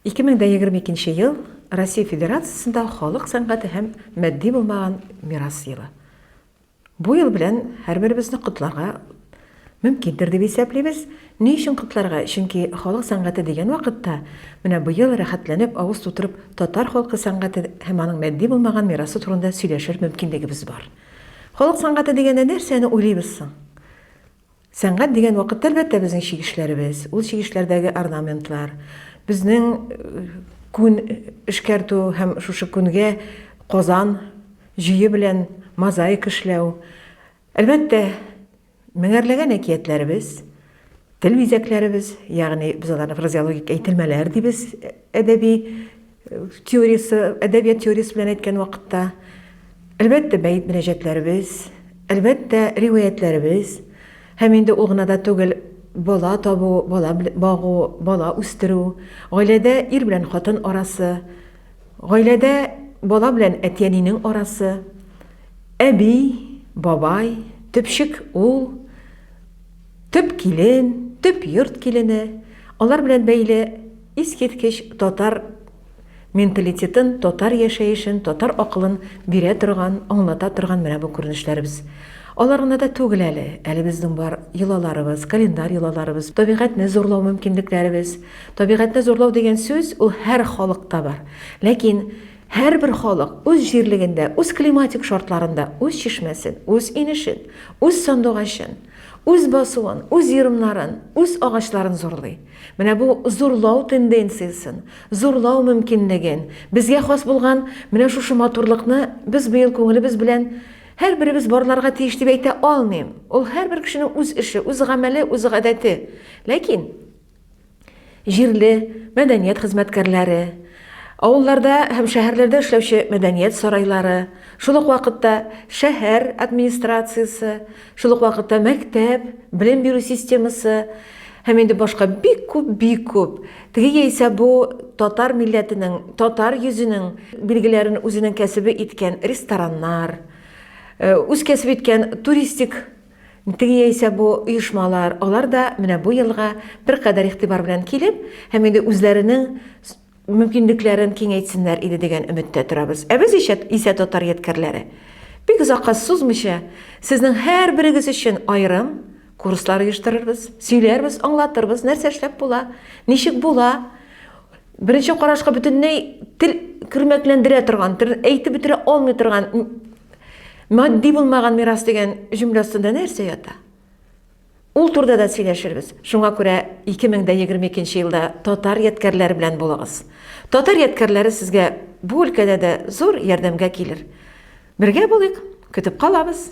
Ике мең дә егерме икенче ел, Россия Федерациясендә Халык сәнгате һәм матди булмаган мирас елы. Бу ел белән һәрберебезне котларга мөмкиндер дип исәплибез. Ни өчен котларга? Чөнки халык сәнгате дигән вакытта, менә быел рәхәтләнеп авыз тутырып татар халкы сәнгате һәм аның матди булмаган мирасы турында сөйләшер мөмкинлегебез бар. Халык сәнгате дигәндә нәрсәне уйлыйбыз соң? Сәнгать дигән вакытта, әлбәттә, безнең чигешләребез, ул чигешләрдәге орнаментлар, безнең күн эшкәртү һәм шушы күнгә Казан җөе белән мозаика эшләү. Әлбәттә, меңәрләгән әкиятләребез, тел бизәкләребез, ягъни без аларны фразеологик әйтелмәләр дибез, әдәби теориясе, әдәбият теориясе белән әйткән вакытта, әлбәттә, бәет мөнәҗәтләребез, әлбәттә, риваятьләребез, һәм инде ул гына да түгел, бала табу, бала багу, бала үстерү, гаиләдә ир белән хатын арасы, гаиләдә бала белән әти-әнинең арасы, әби, бабай, төпчек ул, төп килен, төп йорт килене, алар белән бәйле Искиткеч татар менталитетын, татар яшәешен, татар акылын бирә торган, аңлата торган менә бу күренешләребез. Алар гына да түгел әле. Әле безнең бар йолаларыбыз, календарь йолаларыбыз, табигатьне зурлау мөмкинлекләребез. Табигатьне зурлау дигән сүз, ул һәр халыкта бар. Ләкин һәрбер халык үз җирлегендә, үз климатик шартларында үз чишмәсен, үз инешен, үз сандугачын, үз басуын, үз ерымнарын, үз агачларын зурлый. Менә бу зурлау тенденциясен, зурлау мөмкинлеген, безгә хас булган менә шушы матурлыкны без быел күңелебез белән һәрберебез барларга тиеш дип әйтә алмыйм. Ул һәрбер кешенең үз эше, үз гамәле, үз гадәте. Ләкин җирле мәдәният хезмәткәрләре, авылларда һәм шәһәрләрдә эшләүче мәдәният сарайлары, шул ук вакытта шәһәр администрациясе, Шул ук вакытта мәктәп, белем бирү системасы һәм инде башка бик күп, бик күп. Теге яисә бу татар милләтенең, татар йөзенең билгеләрен үзенең кәсебе иткән рестораннар, э, үз кәсебе иткән туристик теге яисә бу оешмалар, алар да менә бу елга беркадәр игътибар белән килеп, һәм инде үзләренең мөмкинлекләрен киңәйтсеннәр иде дигән өметтә торабыз. Ә без исә, исә татар ядкәрләре. Бик озакка сузмыйча, сезнең һәрберегез өчен аерым курслар оештырырбыз, сөйләрбез, аңлатырбыз, нәрсә эшләп була, ничек була. Беренче карашка бөтенләй тел кермәкләндерә торган, әйтеп бетерә алмый торган матди булмаган мирас дигән җөмлә астында нәрсә ята? Ул турда да сөйләшербез. Шуңа күрә 2022 елда татар ядкәрләре белән булыгыз. Татар ядкәрләре сезгә бу өлкәдә дә зур ярдәмгә килер. Бергә булыйк, көтеп калабыз!